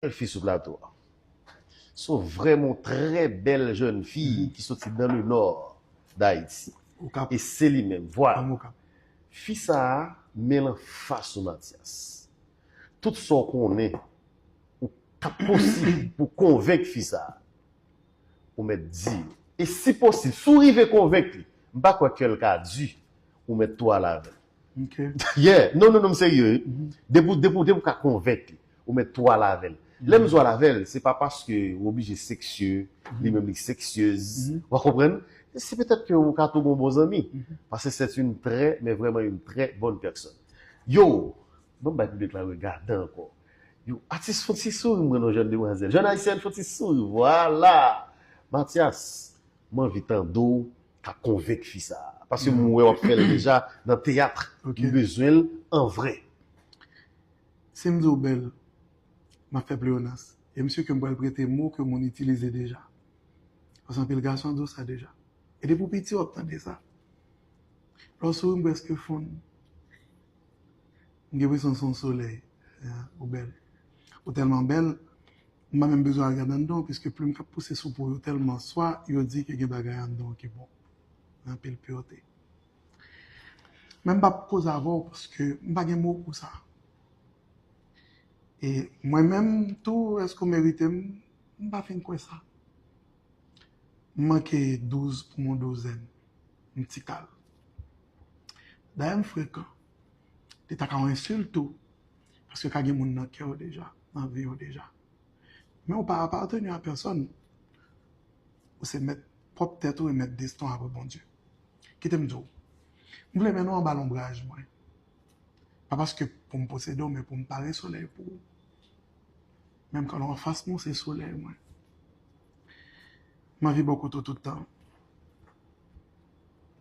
Bel fi sou plato a. Sou vrèman yon trè bèl jèn fi ki soti dan le nò dayiti. E se li menm. Vwala. Fi sa a men l anfas ou Matyas. Tout sa w konnen ou kap posib pou w konvenk fi sa a. Ou mèt di yo. E si posib, si w rive konvenk li, m pa kwè kè l ka di, ou mèt tou al avè l. Yeah! Non non non m serye wi. Depi w ka konvenk li. Ou mèt two al avè l. Lè m di w al avè l, se pa paske ou oblije seksye, li menm li seksyez. Ou konprann? Se petèt ke ou ka tou gen yon bon zanmi. Pase sèt yn trè, men vrèman yn trè bòn pèsòn. Yow! Ban m bay piblik la regadan ankò. Yow! Atis fon ti souri m wè nan jèn demwazèl. Jèn ayisyèn fon ti souri. Vwala! Matyas, m anvi tande w k ap konvenk fi sa a. Paske m wè w ap fè l deja nan teyat. M bezwen l an vrè. Si m di w bèl, m ap fè pleyonas. E m si ke m pral prete mo ke moun itilize deja. Paske anpil gason ap di w sa deja. E depi w piti w ap tande sa. Lè w souri m prèske fonn. M gen enpresyon w se yon solèy. Ou bèl. Ou tèlman bèl, m pa menm bezwen al gade anndan w piske plim k ap pouse sou po yo tèlman swa yo di ke gen bagay anndan w ki bon. Gen anpil purte. Men m pap koze avè w paske m pa gen mo pou sa. E mwen menm tou èske w merite m? M pa fin kwè sa. M manke douz pou m yon douzèn. M ti kal. Dayè m frekan. Li ta ka yon ensilt tou paske ka gen moun nan kè w deja, nan vi w deja. Men w pa apateni a pèsòn. Ou se mèt pwòp tèt ou e mèt destin w aprè Bondye. Kite m di w. M vle mennen w anba lonbraj mwen. Pa paske pou m posede w men pou m pare solèy pou ou. Menm kan ou anfas mwen w se solèy mwen. M anvi ba w kote w tout tan.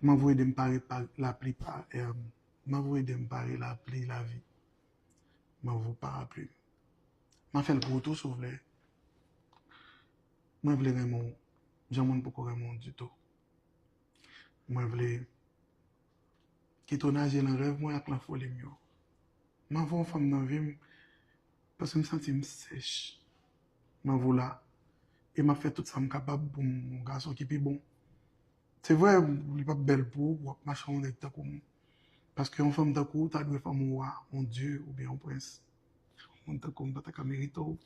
M anvi w ede m pare lapli m anvi w ede m pare lapli lavi. M anvi w parapli m. M a fè l pou ou tou si w vle. Mwen vle renmen w jan moun poko renmen w ditou. Mwen vle kite w naje lan rèv mwen ak lan foli m yo. M anvi w yon fanm nan vi m paske m santi m sèch. M anvi w la e m ap fè tout sa m kapab pou m yon gason ki pi bon. Se vre li pap bèl pou w pou w ap mache yon nèg tankou m paske yon fanm tankou w ta dwe fanm yon wa, yon dye oubyen yon prens. Yon moun tankou m pa ta ka merite w.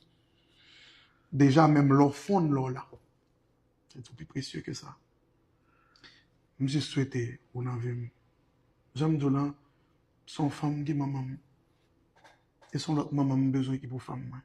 Deja menm lè w fonn lè w la. Se tou pi presye ke sa. M jis swete ou nan vi m. Jan m di w lan, se yon fanm ki manman m. E se yon lòt manman m bezwen ki pou fanm mwen.